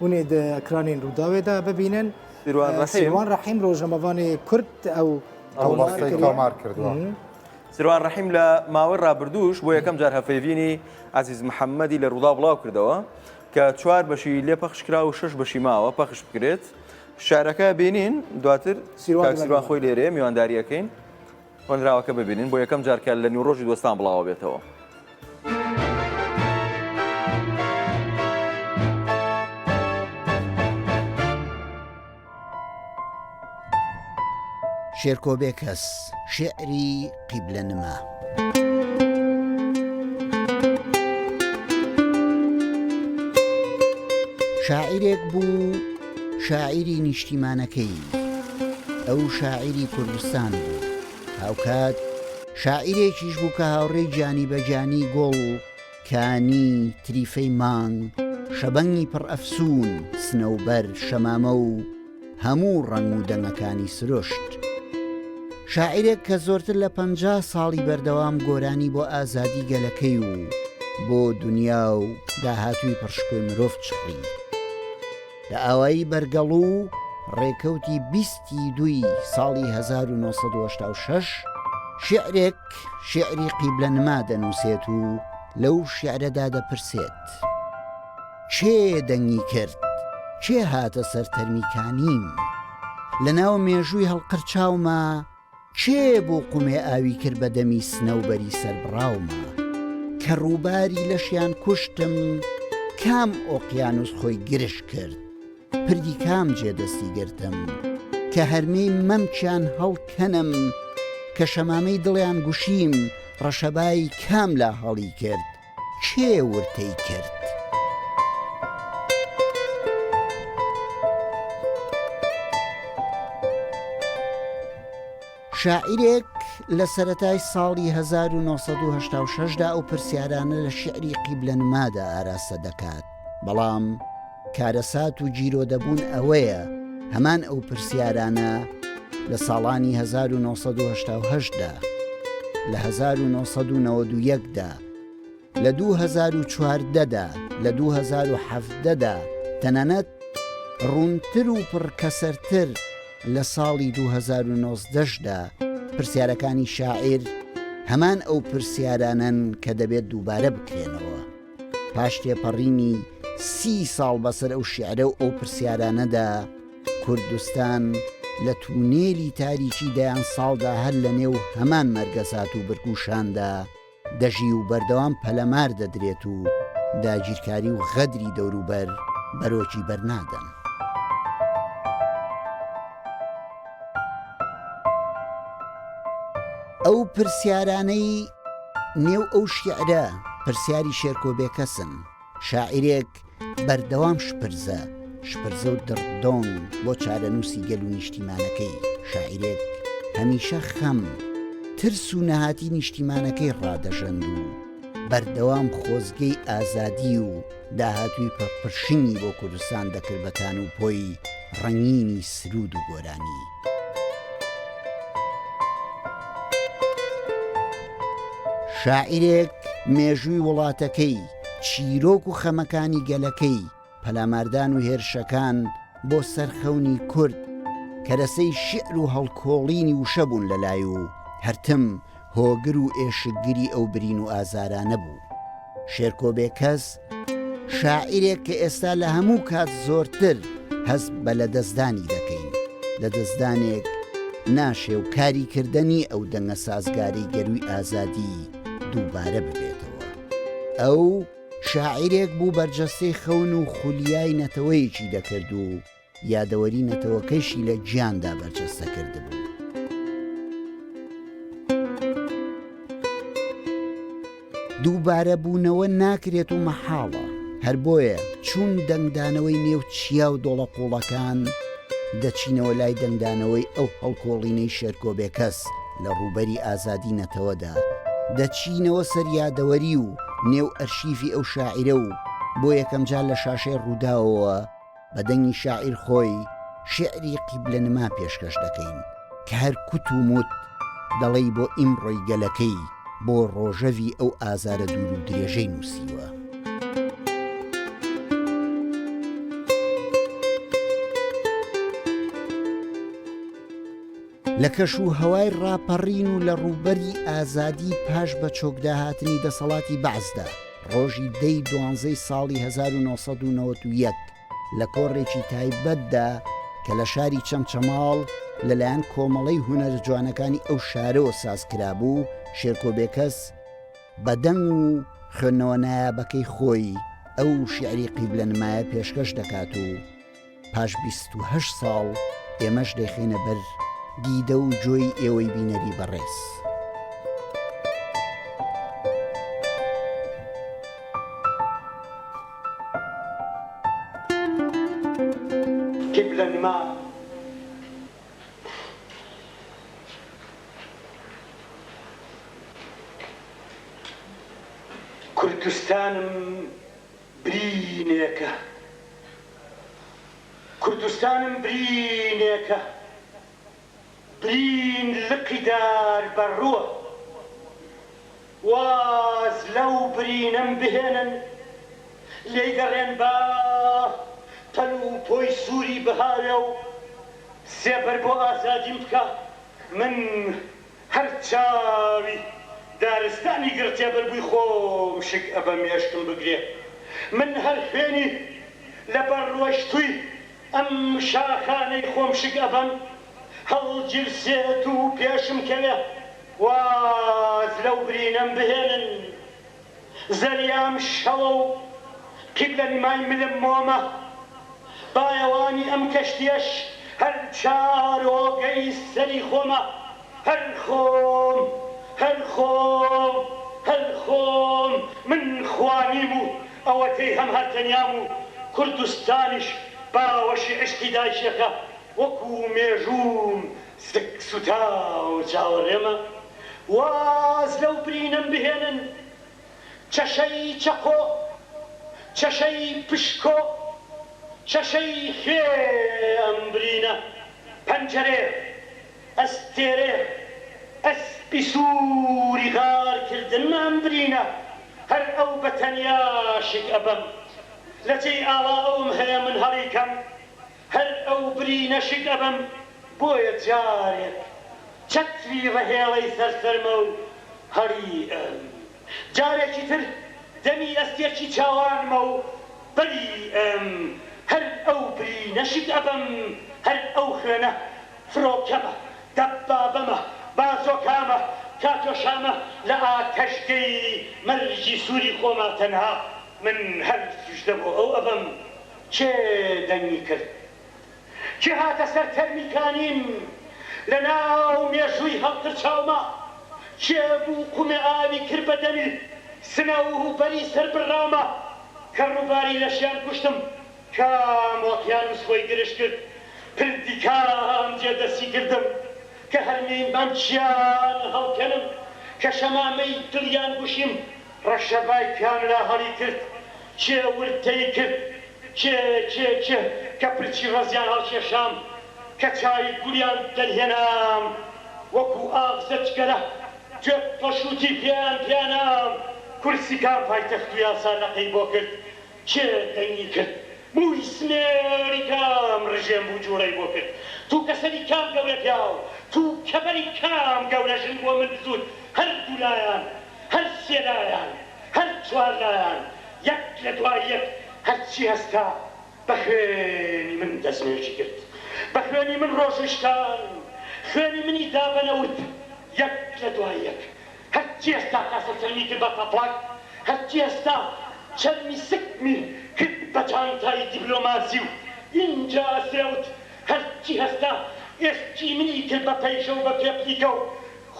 هونێ دە ئەکرانێن رووداوێ دا ببینن. سیروان ڕەحیم سیروان ڕەحیم ڕۆژنەمەڤانێ کورد ئەو ئەو تۆمار ڕۆستەی کردووە. تۆمار کردووە. سیروان ڕەحیم لە ماوەی ڕابردووش بۆ یەکەم جار هەڤپەیڤینی عەزیز محەممەدی لە رووداو بڵاو کردەوە کە چوار بەشی لێ پەخش کرا و شەش بەشی ماوە پەخش بکرێت. شارەکە بینین دواتر سیروان کاک سیروان دەمەبینی. خۆی لێرەیە میوانداری ئەکەین. هۆنراوەکە ببینین بۆ یەکەم جار کە لە نیوڕۆژی دۆستان بڵاوە بێتەوە. شێرکۆ بێکەس شعری قیبلە نما. شاعیرێک بوو، شاعیری نیشتیمانەکەیی، ئەو شاعیری کوردستان بوو، هاوکات شاعیرێکیش بوو کە هاوڕێی گیانی بە گیانی گوڵ، کانی، تریفەی مانگ، شەبەنگی پڕ ئەفسوون، سنەوبەر، شەمامە و هەموو ڕەنگ و دەنگەکانی سروشت. شاعیرێک کە زۆرتر لە پەنجا ساڵی بەردەوام گۆرانی بۆ ئازادی گەلەکەی و بۆ دونیا و داهاتووی پڕشکۆی مرۆڤ چڕی. لە ئاوایی بەرگەڵوو ڕێکەوتی بیست ی دووی ساڵی هەزار و نۆ سەد و هەشتا و شەش شیعرێک شیعری قیبلە نما دەنووسێت و لەو شیعرەدا دەپرسێت، کێ دەنگی کرد؟ کێ هاتە سەر تەرمی کانیم؟ لە ناو مێژووی هەڵقرچاوما، کێ بوو قومێ ئاوی کرد بە دەمی سنەوبەری سەربڕاوما؟ کە ڕووباری لەشیان کوشتم کام ئۆقیانووس خۆی گرژ کرد؟ پردی کام جێ دەستی گرتم؟ کە هەرمێی مەمکیان هەڵکەنم؟ کە شەمامەی دڵیان گوشیم ڕەشەبای کام لا هەڵی کرد؟ کێ ورتەی کرد؟ شاعیرێک لە سەتای ساڵی 1970دا ئەو پرسیارانە لە شعری قیبلە نمادا ئاراستە دەکات بەڵام کارەسات و گیرۆدەبوون ئەوەیە هەمان ئەو پرسیارانە لە ساڵانی 1970 دا، لە 1991 دا، لە 2014 دا، لە 2017 دا، تەنانەت ڕوونتر و پڕکەسەرتر لە ساڵی 2019 دا، پرسیارەکانی شاعیر هەمان ئەو پرسیارانەن کە دەبێت دووبارە بکرێنەوە. پاش تێپەڕینی سی ساڵ بەسەر ئەو شیعرە و ئەو پرسیارانەدا، کوردستان لە تونێلی تاریکی دەیان ساڵدا هەر لەنێو هەمان مەرگەسات و برک و شاندا دەژی و بەردەوام پەلەمار دەدرێت و داگیرکاری و غەدری دەوروبەر بەرۆکی بەرنادەن. ئەو پرسیارانەی نێو ئەو شیعرە پرسیاری شێرکۆ بێکەسن. شاعیرێک بەردەوام شپرزە شپرزە و دڕ دۆنگ بۆ چارەنووسی گەل و نیشتیمانەکەی، شاعیرێک هەمیشە خەم، ترس و نەهاتی نیشتیمانەکەی ڕادەژەند و بەردەوام خۆزگەی ئازادی و داهاتووی پڕ پرشنگی بۆ کوردستان دەکرد بە تان و پۆی ڕەنگینی سروود و گۆرانی. شاعیرێک مێژووی وڵاتەکەی، چیرۆک و خەمەکانی گەلەکەی، پەلاماردان و هێرشەکان بۆ سەر خەونی کورد، کەرەسەی شیعر و هەڵکۆڵینی وشە بوون لەلای و هەرتم هۆگر و ئێشکگری ئەو برین و ئازارانە بوو. شێرکۆ بێکەس، شاعیرێک کە ئێستا لە هەموو کات زۆرتر هەست بە لەدەستدانی دەکەین، لەدەستدانێک ناشێ و کاری کردە نی ئەو دەنگە سازگارەی گەرووی ئازادی دووبارە ببێتەوە. ئەو شاعیرێک بوو بەرجەستەی خەون و خولیای نەتەوەیەکی دەکرد و یادەوەری نەتەوەکەیشی لە گیاندا بەرجەستە کردبوو. دووبارەبوونەوە ناکرێت و مەحاڵە. هەر بۆیە چون دەنگدانەوەی نێو چیا و دۆڵە قووڵەکان، دەچینەوە لای دەنگدانەوەی ئەو هەڵکۆڵینەی شێرکۆ بێکەس لە ڕووبەری ئازادی نەتەوەدا، دەچینەوە سەر یادەوەری و نێو ئەرشیفی ئەو شاعیرە و بۆ یەکەمجار لە شاشەی ڕووداوەوە، بە دەنگی شاعیر خۆی شیعری قیبلە نما پێشکەش دەکەین کە هەر کوت و موت دەڵێی بۆ ئیمڕۆی گەلەکەی بۆ ڕۆژەڤی ئەو ئازارە دوور و درێژەی نووسیوە. لە کەش و هەوای ڕاپەڕین و لە ڕووبەری ئازادی پاش بەچۆکداهاتنی دەسەڵاتی بەعسدا، ڕۆژی دە ی دوانزەی ساڵی هەزار و نۆ سەد و نەوەد و یەک لە کۆڕێکی تایبەتدا کە لە شاری چەمچەماڵ لەلایەن کۆمەڵەی هونەرە جوانەکانی ئەو شارەوە ساز کرابوو، شێرکۆ بێکەس بە دەنگ و خوێندنەوە نایابەکەی خۆی ئەو شیعری قیبلەنمایە پێشکەش دەکات و، پاش بیست و هەشت ساڵ ئێمەش دەیخەینە بەر دیدە و جۆی ئێوەی بینەری بەڕێز. برینێکە کوردستانم برینێکە برین لقی دار بە ڕووە واز لەو برینەم بهێنن لێی گەڕێن با پەل و پۆی سووری بهاوێ و سێبەر بۆ ئازادیم بکا من هەر چاوی دارستانی گڕتێبەر بووی خۆم شک ئەبەم مێشکم بگرێ من هەر خوێنی لە بەر ڕۆشتووی ئەم شاخانەی خۆم شک ئەبەم هەڵگیرسێت و پێشم کەوێ واز لەو برینەم بهێنن زریام شەوە و قیبلەنمای ملم مۆمە. بایەوانی ئەم کەشتیەش هەر چارۆگەی سەری خۆمە. هەر خۆم، هەر خۆم، هەر خۆم، من خوا نیم و ئەوەتەی هەم هەر تەنیام و کوردستانیش باوەشی عیشقی دایکیەکە وەکو مێژووم سک سوتاو چاوەڕێمە. واز لەو برینەم بهێنن چەشەی چەقۆ چەشەی پشکۆ چەشەی خوێ ئەم برینە پەنجەرێ ئەستێرێ ئەسپی سووری غار کردنمە ئەم برینە هەر ئەو بەتەنیا شک ئەبەم لەجێی ئاوا ئەوم هەیە من هەڵیکەم هەر ئەو برینە شک ئەبەم بۆیە جارێک چەتری ڕەهێڵەی سەر سەرمە و هەڵیئەم جارێکی تر دەمی ئەستێکی چاوانمە و بەریئەم هەر ئەو برینە شک ئەبەم هەر ئەو خوێنە فرۆکەمە دەبابەمە بازۆکامە کاتۆشامە لە ئاتەشگەی مەرگی سووری خۆما تەنها من هەر سوژدە بۆ ئەو ئەبەم کێ دەنگی کرد؟ کێ هاتە سەر تەرمی کانین؟ لە ناو مێژووی هەڵپرچاوما کێ بوو قومێ ئاوی کرد بە دەمی سنە و بەری سەر بڕرامە کە ڕووباری لەشیان کوشتم؟ کام ئۆقیانووس خۆی گرژ کرد؟ پردی کام جێ دەستی گردم کە هەرمێی مەمکیان هەڵکەنم؟ کە شەمامەی دڵیان گوشیم؟ ڕەشەبای کام لا هەڵی کرد؟ کێ وردتەی کرد کێ کێ کێ کە پرچی ڕەزیان هەڵکێشام کە چاوی گوریان دەرهێنام وەکو ئاغزە جگەرە گوێ پەشوتی پێیان پێنام کورسی کام پایتەخت و یاسا لەقەی بۆ کرد کێ دەنگی کرد مووی سمێڵی کام ڕژێم بوو جووڵەی بۆ کرد تووکە سەری کام گەورە پیاو تووکە بەری کام گەورە ژن بۆ من بزووت هەردوولایان هەر سێ لایان هەر چوار لایان یەک لە دوای یەک هەرچی هەستا بە خوێنی من دەستنوێژی کرد، بە خوێنی من ڕۆژووی شکان، خوێنی منی دا بە نەوت، یەک لە دوای یەک هەرچی هەستا کاسە چەرمی کرد بە تەپڵەک، هەرچی هەستا چەرمی سکمی کرد بە جانتای دیبلۆماسی و ئینجا سێوت، هەرچی هەستا ئێسکی منی کرد بە پەیژە و بە پێپلیکە و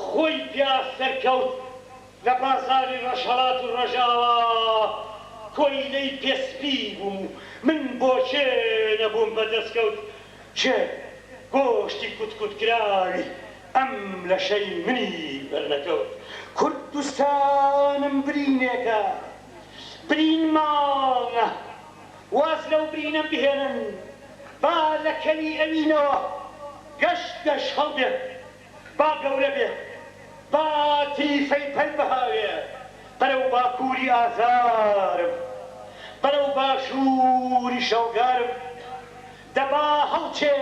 خۆی پیا سەرکەوت، لە بازاڕی ڕۆژهەڵات و ڕۆژاوا کۆیلەی پێ سپی بووم و من بۆ کێ نەبووم بە دەسکەوت کێ گۆشتی کوت کوت کراوی ئەم لەشەی منی بەرنەکەوت کوردستانم برینێکە برین ماڵە واز لەو برینە بهێنن با لە کەلی ئەوینەوە گەش گەش هەڵبێت با گەورە بێت، با تیفەی پەل بهاوێ بەرەو باکووری ئازارم، بەرەو باشووری شەوگارم. دە با هەڵچێ،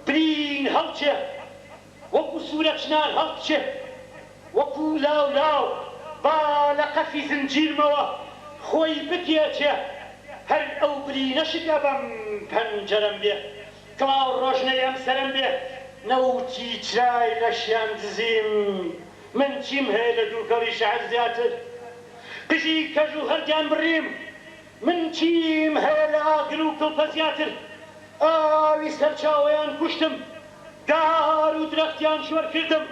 برین هەڵچێ، وەکوو سوورە چنار هەڵبچێ، وەکوو لاو لاو با لە قەفی زنجیرمەوە خۆی بپێچێ، هەر ئەو برینە شک ئەبەم پەنجەرەم بێ کڵاو ڕۆژنەی ئەم سەرم بێ. نەوتی چرای لەشیان دزیم. من چیم هەیە لە دووکەڵی شەعر زیاتر؟ قژی کەژ و هەردیان بڕیم. من چیم هەیە لە ئاگر و کڵپە زیاتر؟ ئاوی سەرچاوەیان کوشتم. دار و درەختیان شۆر کردم.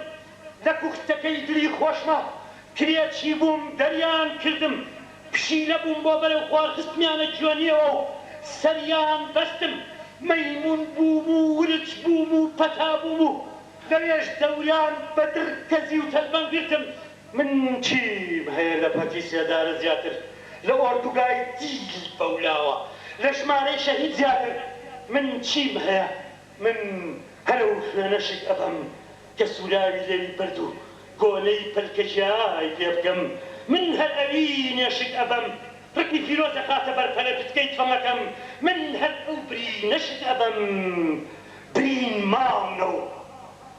لە پوختەکەی دلی خۆشمە کرێچی بووم دەریان کردم پشیلە بووم بۆ بەرەو خوار خستمیانە جوێنیەوە و سەریان بەستم مەیمون بووم و ورچ بووم و پەتا بووم و لەوێش دەوریان بە دڕ گەزی و تەلبەن گرتم. من چیم هەیە لە پەتی سێدارە زیاتر لە ئۆردوگای دیلی بەولاوە لە ژمارەی شەهید زیاتر من چیم هەیە. من هەر ئەو خوێنە شک ئەبەم کە سوراوی لێوی برد و گۆلەی پەلکە جیای پێ بکەم، من هەر ئەوینێ شک ئەبەم ڕقی فیرۆز ئەخاتە بەر پەرە پتکەی تفەنگەکەم، من هەر ئەو برینە شک ئەبەم برین ماونە و.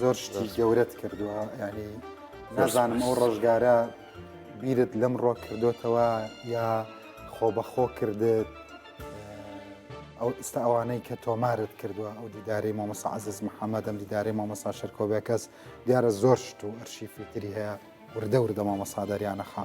زۆر شتی گەورەت کردووە ینی نازانم ئەو ڕۆژگارە بیرت لەم ڕۆک کردوتەوە یا خۆ بەخۆ کردت ئەو ئستا ئەوانەی کە تۆمارت کردووە ئەو دیداری مامۆسا عزیز محەممەد ئەم دیداری مامۆسا شەرکۆبێکەس دیارە زۆر شت و ئەرشیفی تری هەیە وردە وردە مامۆساداریانەخە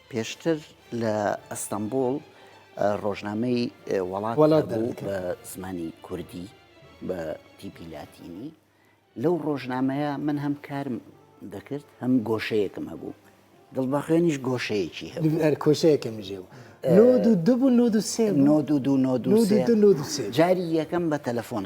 پێشتر لە ئەستەمبوڵ ڕۆژنامەی وەڵات هەبوو بە زمانی کوردی بە تیپی لاتینی لەو ڕۆژنامەیە من هەم کارم دەکرد هەم گۆشەیەکم هەبوو دڵبەخوێنیش گۆشەیەکی هەرکۆشەیەکم ژێ و نۆ دوو دوو نۆ دوو سێ نۆ دوو دوو نۆ دوو جاری یەکەم بە تەلەفۆن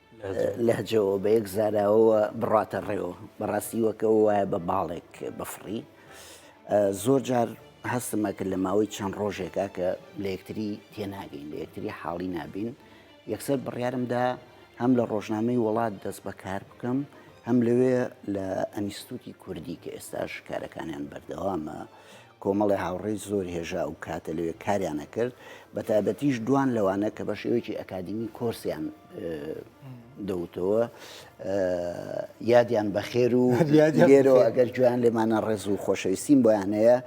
لەهجەوە بە یەک زاراوەوە بڕاتە ڕێوە بەڕاستی وەکەوە وایە بە باڵێک بەفڕی زۆر جار هەستمە کرد لە ماوەی چەند ڕۆژێکا کە لە یەکتری تێناگەین لە یەکتری حاڵی نابین یەکسەر بڕیارمدا هەم لە ڕۆژنامەی وڵات دەست بەکار بکەم هەم لەوێ لە ئەنیستوتی کوردی کە ئێستاش کارەکانیان بەردەوامە کۆمەڵێ هاوڕێی زۆر هێژا ئەو کاتە لەوێ کاریان ئەکرد، بەتایبەتیش دوان لەوانە کە بە شێوەیەکی ئەکادیمی کۆرسیان دەوتەوە یادیان بەخێر و لێرەوە ئەگەر گوێیان لێمانە ڕێز و خۆشەویستیم بۆیان هەیە.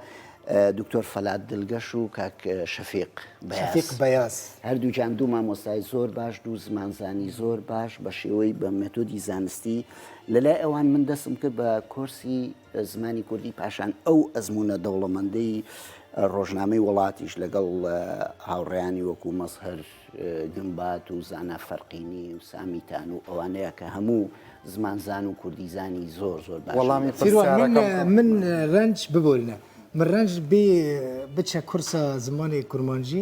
دکتۆر فەلات دلگەش و کاک شەفیق شەفیق بەیاز هەردووجان دوو مامۆستای زۆر باش دوو زمانزانی زۆر باش بە شێوەی بە مێتۆدی زانستی لەلای ئەوان من دەستم کرد بە کۆرسی زمانی کوردی پاشان ئەو ئەزموونە دەوڵەمەندەی ڕۆژنامەی وڵاتیش لەگەڵ هاوڕێیانی وەکو مەزهر گمبات و زانا فەرقینی و سامیتان و ئەوانەیە کە هەموو زمانزان و کوردیزانی زۆر زۆر باش وەڵامی من پرسیارەکەم من ڕەنج ببورنە من ڕەنج بێ بچە کورسە زمانی کورمانجی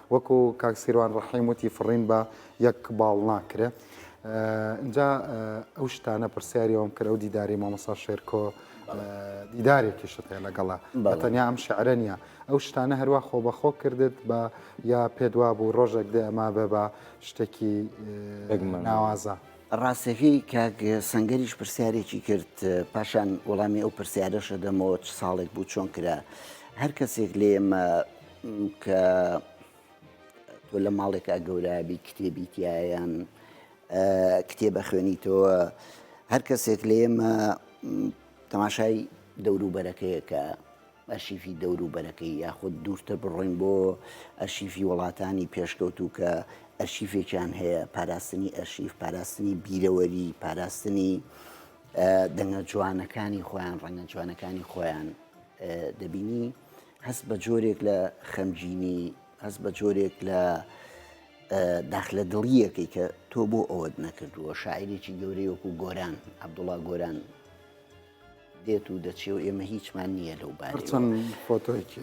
وەکو کاک سیروان ڕەحیم وتی فڕین بە یەک باڵ ناکرێ ئینجا ئەو شتانە پرسیاری ئەوم کرد ئەو دیداری مامۆسا شێرکۆ دیدارێکیشت هەیە لەگەڵا بە تەنیا ئەم شعرە نیە ئەو شتانە هەروە خۆ بەخۆ کردت بە یا پێدوا بوو ڕۆژێک دێ ئەما بێ بە شتێکی ناوازە. ڕاستەکەی کاک سنگەریش پرسیارێکی کرد پاشان وەڵامی ئەو پرسیارەشە دەمەوە چ ساڵێک بوو چۆن کرا هەر کەسێک لێمە کە تۆ لە ماڵێکا گەورابی کتێبی تایەن کتێبە خوێنیتەوە هەر کەسێک لە ئێمە تەماشای دەوروبەرەکەیەکە ئەشیفی دەوروبەرەکەی یاخود دوورتر بڕۆین بۆ ئەشیفی وڵاتانی پێشکەوتوو کە ئەرشیفێکیان هەیە پاراستنی ئەرشیف پاراستنی بیرەوەری پاراستنی دەنگە جوانەکانی خۆیان ڕەنگە جوانەکانی خۆیان دەبینی هەست بە جۆرێک لە خەمگینی، هەست بە جۆرێک لە داخلە دڵیەکەی کە تۆ بۆ ئەوەت نەکردووە شاعرێکی گەورەی وەکو گۆران عبدوڵا گۆران دێت و دەچێ و ئێمە هیچمان نییە لەو بارچەند فۆتۆکی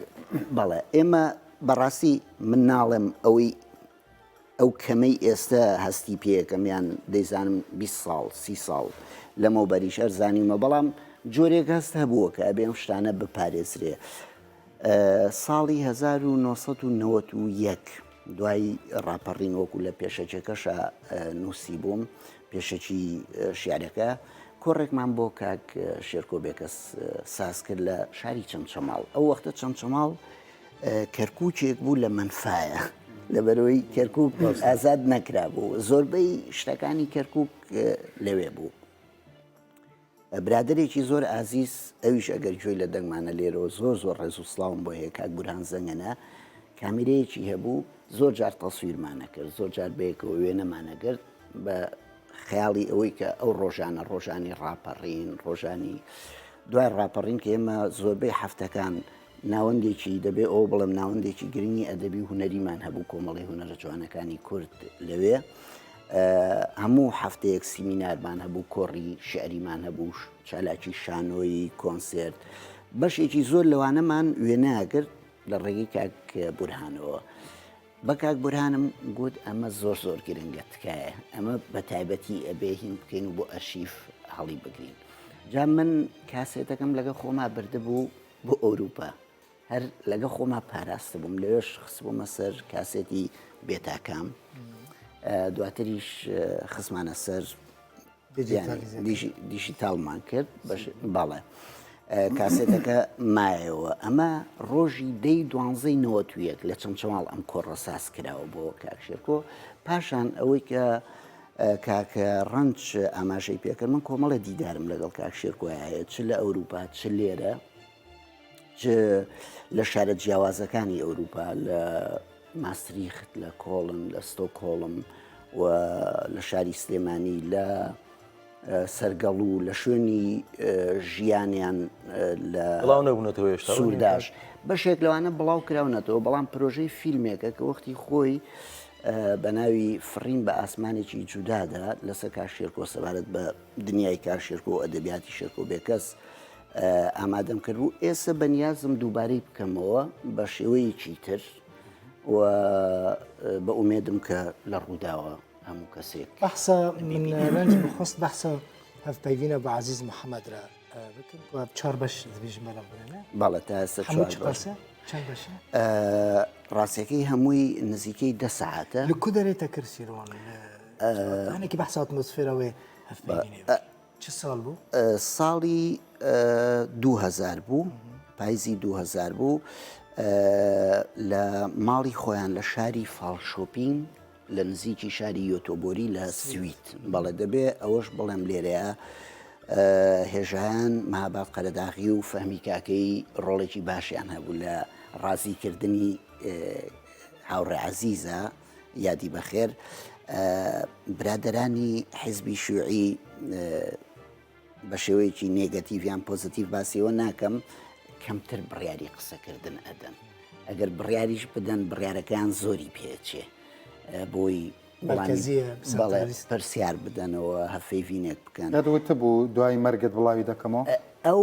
بەڵێ ئێمە بەڕاستی من ناڵێم ئەوەی ئەو کەمەی ئێستە هەستی پێکەم یان دەیزانم بیست ساڵ سی ساڵ لەمەوبەریش ئەر زانیومە بەڵام جۆرێک هەست هەبووە کە ئەبێ ئەم شتانە بپارێزرێ ساڵی 1991 دوای ڕاپەڕین وەکو لە پێشەکێکەشە نووسی بووم پێشەکی شعرەکە کۆڕێکمان بۆ کاک شێرکۆ بێکەس ساز کرد لە شاری چەمچەماڵ ئەو وەختە چەمچەماڵ کەرکوکێک بوو لە مەنفایە لەبەرەوەی کەرکک ئازاد نەکرا بوو زۆربەی شتەکانی کەرکک لەوێ بوو. برادێکی زۆر ئازیز ئەویش ئەگەر گوێی لە دەنگمانە لێرەوە زۆر زۆر ڕێز و سلااوم بۆ هەیە کاک گوران زەنگەنە کامیرەیەکی هەبوو زۆر جار تەسویرمانە کرد زۆر جار بەیەکەوە وێنەمانە گرت بە خەیاڵی ئەوەی کە ئەو ڕۆژانە ڕۆژانی ڕاپەڕین ڕۆژانی دوای ڕاپەڕین کە ئێمە زۆربەی هەفتەکان ناوەندێکی، دەبێ ئەوە بڵێم، ناوەندێکی گرنگی ئەدەبی و هونەریمان هەبوو، کۆمەڵەی هونەرە جوانەکانی کورد لەوێ. هەموو هەفتەیەک سیمینارمان هەبوو، کۆڕی شعریمان هەبوو، چالاکی شانۆیی، کۆنسێرت. بەشێکی زۆر لەوانەمان وێنە ئەگرت لە ڕێگەی کاک بورهانەوە. بە کاک بورهانم گوت ئەمە زۆر زۆر گرنگە، تکایە ئەمە بە تایبەتی ئەبێ هین بکەین و بۆ ئەرشیف هەڵیبگرین. جا من کاسێتەکەم لەگەڵ خۆما بردبوو، بۆ ئەوروپا هەر لەگە خۆما پاراست بووم لەوێش خستبوومە سەر کاسێتی بێتاکام دواتریش خزمانە سەر دیژیتالمان کرد باڵێ کاسێتەکە مایەوە ئەمە ڕۆژی دەی دوانزەی نەوەتویەک لە چەمچەماڵ ئەم کۆڕە ساز کراوە بۆ کاکشێکۆ پاشان ئەوەی کە کاک ڕەنج ئاماژەی پێکرد من کۆمەڵێ دیدارم لەگەڵ کاک شێرکۆیا هەیە چ لە ئەوروپا چ لێرە لە شارە جیاوازەکانی ئەوروپا لە ماستریخت لە کۆڵن لە ستۆکۆڵم و لە شاری سلێمانی لە سەرگەڵ و لە شوێنی ژیانیان لە بڵاو نەبوونەتەوە هێشتا سوورداش بەشێک لەوانە بڵاو کراونەتەوە بەڵام پرۆژەی فیلمێکە کە وەختی خۆی بەناوی فڕین بە ئاسمانێکی جودادا لەسەر کاک شێرکۆ سەبارەت بە دنیای کاک شێرکۆ و ئەدەبیاتی شێرکۆ بێکەس ئامادەم کرد بوو ئێستا بەنیازم دووبارەی بکەمەوە بە شێوەیەکی تر و بە ئومێدم کە لە ڕووداوە هەموو کەسێک بەحسە من لەنج بخست بەحسە هەف پەیوینە بە عزیز محەممەدرا ڕاستەکەی هەمووی نزیکەی دە سەعاتە لکو دەێتە کرسیرۆن ئەنێکی بەسات مسفرەوەی ساڵی 2000 بوو پایزی 2000 بوو لە ماڵی خۆیان لە شاری فاڵ شۆپین لە نزیکی شاری یۆتۆبۆری لە سوید بەڵێ دەبێ ئەوەش بڵێم لێرەیە هێژان مابات قەرەداغی و فەهمی کاکەی ڕۆڵێکی باشیان هەبوو لە ڕازیکردنی هاوڕێ عزیزە یادی بەخێر برادرانی حزبی شوعی بە شێوەیەکی نێگەتیڤ یان پۆزتیڤ باسی ئەوە ناکەم کەمتر بڕیاری قسەکردن ئەدەن ئەگەر بڕیاریش بدەن بڕیارەکەیان زۆری پێچێ بۆی بەڵێ پرسیار بدەنەوە هەفەی ڤینێک بکەن دەوتبوو دوای مەرگت بڵاوی دەکەمەوە ئەو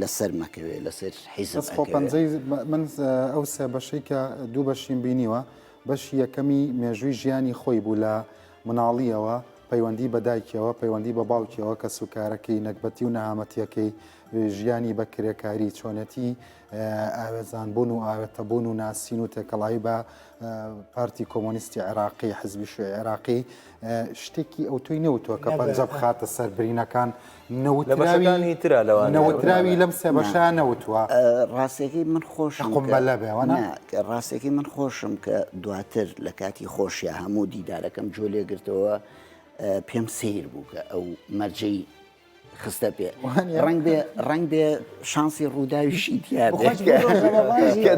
لەسەر مەکەوێ لەسەر حیزب بەس خۆ ئەکەوێ. پەنجەی من ئەو سێ بەشەی کە دوو بەشیم بینیوە بەشی یەکەمی مێژووی ژیانی خۆی بوو لە مناڵیەوە پەیوەندی بە دایکیەوە پەیوەندی بە باوکیەوە کە سوکارەکەی نەگبەتی و نەهامەتیەکەی ژیانی بە کرێکاری چۆنێتی ئاوێزان بوون و ئاوێتە بوون و ناسین و تێکەڵاوی بە پارتی کۆمۆنیستی عێراقی حزبی شوێ عێراقی شتێکی ئەو توی نەوتوە کە پەنجە بخاتە سەر برینەکان نەوتراوی تررا لەوە نەوتراوی لەم سێ بەشە نەوتوە ڕاستەکەی من خۆشم قمبەلە بێوەە ڕاستەکەی من خۆشم کە دواتر لە کاتی خۆشیە هەموو دیدارەکەم جۆ لێگرتەوە پێم سیر بوو کە ئەو مەرجەی خستە پێ ڕنگ بێ ڕنگ بێ شانسی ڕووداویشی دیار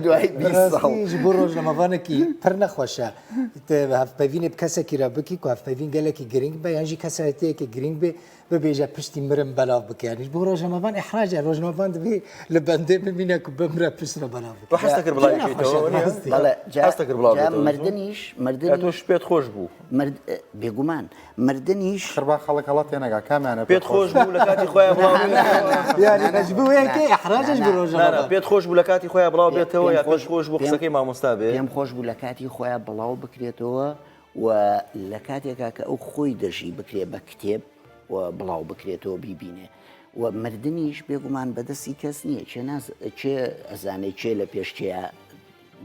دوای ڕۆژ لەمەوانێکی پر نەخۆشە هەفپەوینێ کەسێکی رە بکی کو هەفپەوین گەلێکی گرنگ بە یانژی کەسایەتەیەکی گرنگ بێ ببێژە پشتی مرم بەلاو بکەنیش بۆ ڕۆژنەمەوان ئەحراجە ڕۆژنەوان دەبێ لە بەندێ ببینە و بمرە پشتە بەلاو مردنیش مردنش پێت خۆش بوو بێگومان مردنیش خربا خەڵک هەڵات تێنەگا کامانە پێت خۆش بوو لە کاتی خۆیان پێت خۆش بوو لە کاتی خۆیان بڵاو بێتەوە یا خۆش خۆش بوو قسەکەی مامۆستا بێ پێم خۆش بوو لە کاتی خۆیان بڵاو بکرێتەوە و لە کاتێکا کە ئەو خۆی دەژی بکرێ بە کتێب و بڵاو بکرێتەوە بیبینێ و مردنیش بێگومان بەدەستی کەس نییە چێ ناز چێ ئەزانێ چێ لە پێش چێە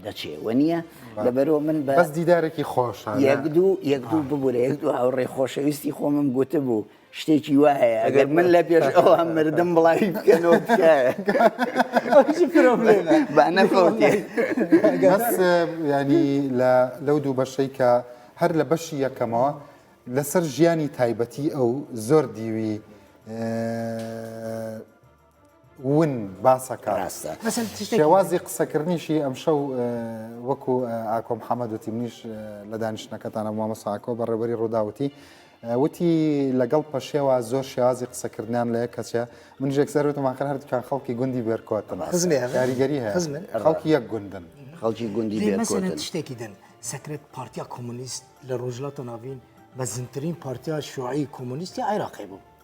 دەچێ وە نییە لەبەرەوە من بە بەس دیدارێکی خۆش یەک دوو یەک دوو ببورە یەک دوو هاوڕێ خۆشەویستی خۆمم گوتبوو شتێکی وا هەیە ئەگەر من لە پێش ئەوە مردم بڵاوی بکەنەوە ینی لەو دوو بەشەی کە هەر لە بەشی یەکەمەوە لەسەر ژیانی تایبەتی ئەو زۆر دیوی ون باسەکە ڕاستە شێوازی قسەکردنیشی ئەم شەو وەکو ئاکۆم حەمەد وتی منیش لە دانیشتەکەتانە مامەساکۆ بە ڕێبەری ڕووداوتی وتی لەگەڵ پەشێوە زۆر شێوازی قسەکردیان لە کەچە من ژێکسەر وتماخر هەردووکان خەڵکی گوندی بێرکۆتن کاریگەری هەیە خەڵکی یەک گوندن خەڵکی گوندی بێرکۆتن شتێکی دن سەکرێت پارتیا کۆمونیست لە ڕۆژلاتە ناوین بە زنترین پارتیا شوعی کۆمونیستی عێراقی بوو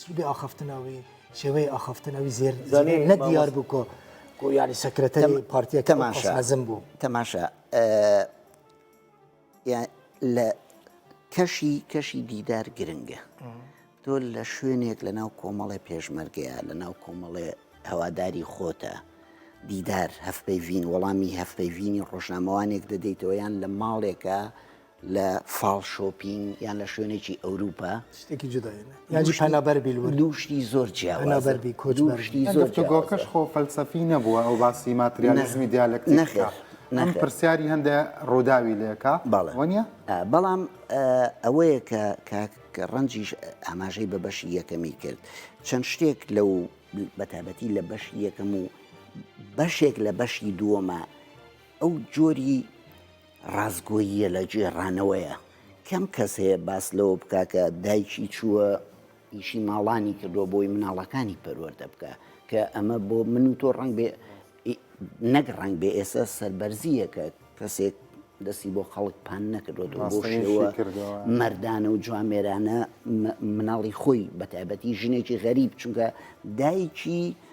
چ ئاخفتنەوەی شێوەی ئاخفتنەوەی زێر نە دیار بوو کۆ گویانی سەکرەتە پارتیە تەماشازم بوو تەماشا لە کەشی کەشی دیدار گرنگە تۆ لە شوێنێک لە ناو کۆمەڵێ پێشمەرگەیە لە ناو کۆمەڵێ هەواداری خۆتە دیدار هەفپەیڤین وەڵامی هەفپەیڤینی ڕۆژنامەوانێک دەدەیتەوە یان لە ماڵێکە لە فاڵ شۆپینگ یان لە شوێنێکی ئەوروپا شتێکی جودا یاجی پەنابەر بیل دوو شتی زۆر جیاوازەربی کۆچبەرشتی زۆر گۆکەش خۆ فەلسەفی نەبووە ئەو باسی ماتریالزمی دیالەک نەخێر نەخ پرسیاری هەندێ ڕووداوی لەکە بەڵێ بەڵام ئەوەیە کە کاک ڕەنجیش ئاماژەی بە بەشی یەکەمی کرد چەند شتێک لەو بەتابەتی لە بەشی یەکەم و بەشێک لە بەشی دووەمە ئەو جۆری ڕاستگۆییە لە گێڕانەوەیە کەم کەس هەیە باس لەوە بکا کە دایکی چووە ئیشی ماڵانی کردووە بۆی مناڵەکانی پەروەردە بکە کە ئەمە بۆ من و تۆ ڕنگ بێ نەک ڕنگ بێ ئێستا سربەرزیەکە کەسێک دەستی بۆ خەڵک پان نەکردوەوە بۆ شێوە مردانە و جوامێرانە مناڵی خۆی بە تایبەتی ژنێکی غەریب چونکە دایکی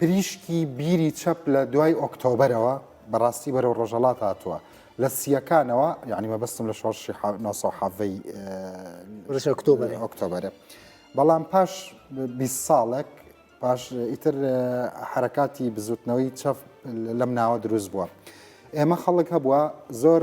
پریشکی بیری چەپ لە دوای ئۆکتۆبەرەوە بە ڕاستی بەرەو ڕۆژەڵات هاتووە لە سییەکانەوە یعنی مەبەستم لە شۆڕشی ح- 900 حەڤەی ئێ، ڕژە ئۆکتۆبەرە. ئۆکتۆبەرە بەڵام پاش بیست ساڵێک پاش ئیتر ئێ، حەرەکاتی بزوتنەوەی چەپ لەم ناوە دروست بووە ئێمە خەڵک هەبووە زۆر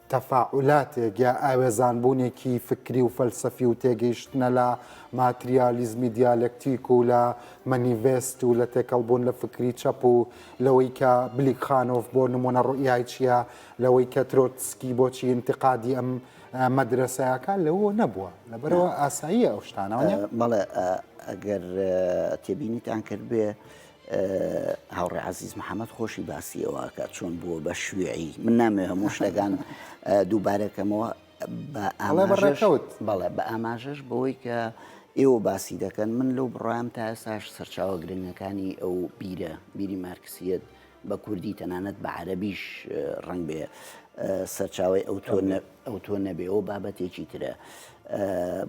تەفاعولاتێک یا ئاوێزانبوونێکی فکری و فەلسەفی و تێگەیشتنە لە ماتریالیزمی دیالەکتیک و لە مەنیڤێست و لە تێکەڵبوون لە فکری چەپ و لەوەی کە بلیکخانۆف بۆ نموونە ڕوئیای چییە لەوەی کە ترۆتسکی بۆچی ئینتقادی ئەم مەدرەسەکە لەوە نەبووە لەبەرەوە ئاساییە ئەو شتانەوە بەڵێ ئەگەر تێبینیتان کردبێ هاوڕێ عزیز محەممەد خۆشی باسی ئەوواکە چۆن بووە بە شوێعی من نامێ هەموو شتەکان دووبارەکەمەوە بەڕێکەوت بەڵێ بە ئاماژەش بەوەی کە ئێوە باسی دەکەن من لەو بڕام تا ئێساش سەرچاوە گرنگەکانی ئەو بیرە بیری مارکسیت بە کوردی تەنانەت بە عەربیش ڕنگ بێ سەرچاوی ئەو تۆ ئەو تۆ نەبێەوە بابەتێکی ترە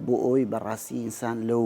بۆ ئەوی بەڕاستی ئینسان لەو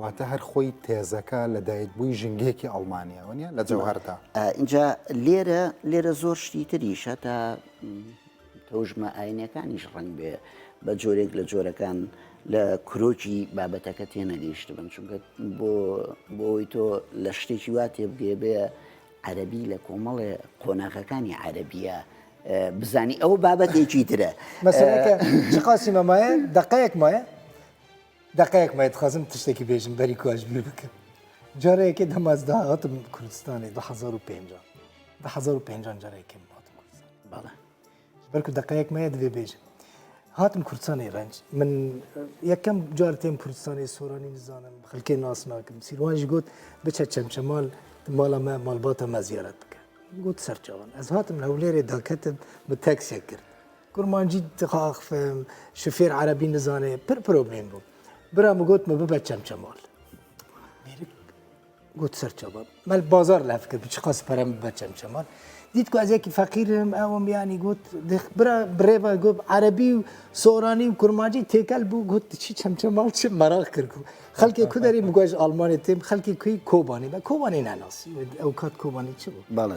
واتە هەر خۆی تێزەکە لە دایکبووی ژینگەیەکی ئەڵمانییەوە نیە لە جەوهەردا. ئینجا لێرە لێرە زۆر شتی تریش هەتا تەوژمە ئاینەکانیش ڕەنگ بێ بە جۆرێک لە جۆرەکان لە کرۆکی بابەتەکە تێنەگەیشت بن چونکە بۆ بۆی تۆ لە شتێکی وا تێبگێ بێ عەربی لە کۆمەڵێ قۆناغەکانی عەربیە بزانی ئەو بابەتێکی ترە مەسەکە چقاسی مەمایە دقەیەک مایە دەقەیەک مە دخوازم تشتێکی بێژم بەری کواش بیر بکە جارەیەکێ دەماز داهاتم کوردستانی 2005 2005 جارێکم هاتم کوردستان بەڵێ بەرکو دەقەیەک مەیە دەبێ بێژم هاتم کوردستانی ڕەنج من یەکەم جار تێم کوردستانی سۆرانی نزانم خەلکێ ناسناکەم سیروانش گوت بچە چەمچەمال ماڵە مە ماڵباتە مە زیارەت بکە گوت سەرچوان ئەز هاتم هەولێرێ داکەتم بە تەکسێک کرد کورمانجی تخاخ فهم شوفێر عەرەبی نزانێ پر پرۆبلێم بوو برام و گۆتمە ببە چەمچەماڵ میرک گوت سەرچەوە مەل بازار لە فکر بچ قەس پەرم بە چەمچەماڵ دیت کو ئەزێکی فەقیرم ئەوم یانی گوت برا برێبە گوت عەربی و سۆرانی و کورمانجی تێکەل بوو گوت چی چەمچەماڵ چ مەراق کرد و خەلکی کودەری بگوژ ئاڵمانی تێم خەلکی کوی کۆبانی بە کۆوانی ناناسی ئەو کات کۆبانی چ بوو باڵێ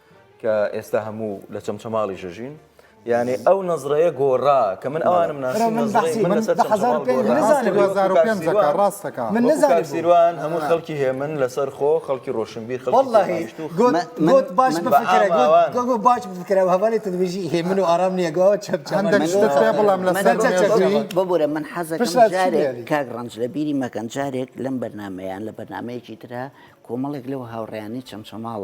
کە ئێستا هەموو لە چەمچەماڵی ژەژین یانێ ئەو نەزڕەیە گۆڕا کە من ئەوانم ناسیروان هەموو خەڵکی هێ من لەسەر خۆ خەڵکی ڕۆشنبیر خەڵڵهیشتوت باش باش بکرا هەوالی تدوژی هێ من و ئارام نیەگەوە بڵام ببورە من حەزە کاک ڕنج لە بیری مەکەن جارێک لەم بەرنمەیان لە بەرنمەیەکی تررا کۆمەڵێک لەو هاوڕیانی چەمچەماڵ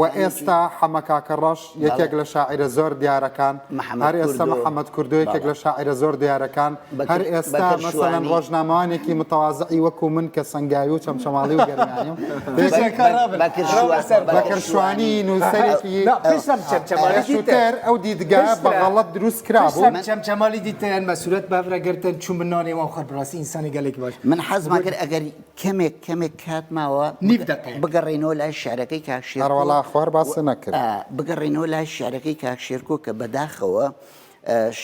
وە ئێستا حەمە کاکە ڕەش یەکێک لە شاعیرە زۆر دیارەکان هەر ئێستا محەمەد کوردۆ یەکێک لە شاعیرە زۆر دیارەکان هەر ئێستا مەسەلەن ڕۆژنامەوانێکی متەوازعی وەکو من کە سەنگاوی و چەمچەماڵی و گەرمیانیم بەکر شوانی نووسەرێکی سوتەر ئەو دیدگا بە غەڵەت دروست کرابوو چەمچەماڵی دیتەیان مەسورەت بەفرە گرتن چوو من نانێوان خۆر بڕاستی ئینسانی گەلێکی باش من حەزما کرد ئەگەری کەمێک کەمێک کات ماوە نیو دەقەیە. بگەڕێینەوە لای شعرەکەی کاک شێرکۆ. ئەڕەوەڵا خوار باست نەکرد. ئا بگەڕێینەوە لای شعرەکەی کاک شێرکۆ کە بە داخەوە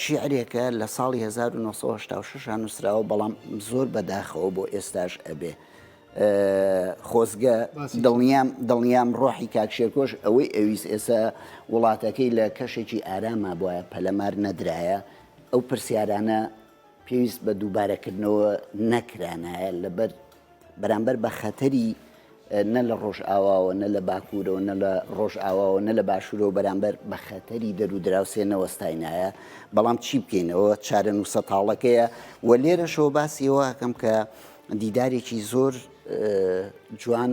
شیعرێکە لە ساڵی 1986 ە نووسراوە بەڵام زۆر بە داخەوە بۆ ئێستاش ئەبێ. خۆزگە باسی چ؟ دڵنیام دڵنیام ڕۆحی کاک شێرکۆش ئەوەی ئەویست ئێستا وڵاتەکەی لە کەشێکی ئاراما بوایە پەلەمار نەدرایە ئەو پرسیارانە پێویست بە دووبارەکردنەوە نەکرانایە لەبەر بەرامبەر بە خەتەری نە لە ڕۆژئاواوە نە لە باکوورەوە نە لە ڕۆژئاواوە نە لە باشوورەوە بەرامبەر بە خەتەری دەرو دراوسێ نەوەستاینایە بەڵام چی بکەینەوە چارە نووسە تاڵەکەیە و لێرەشەوە باسیەوەکەم کە دیدارێکی زۆر جوان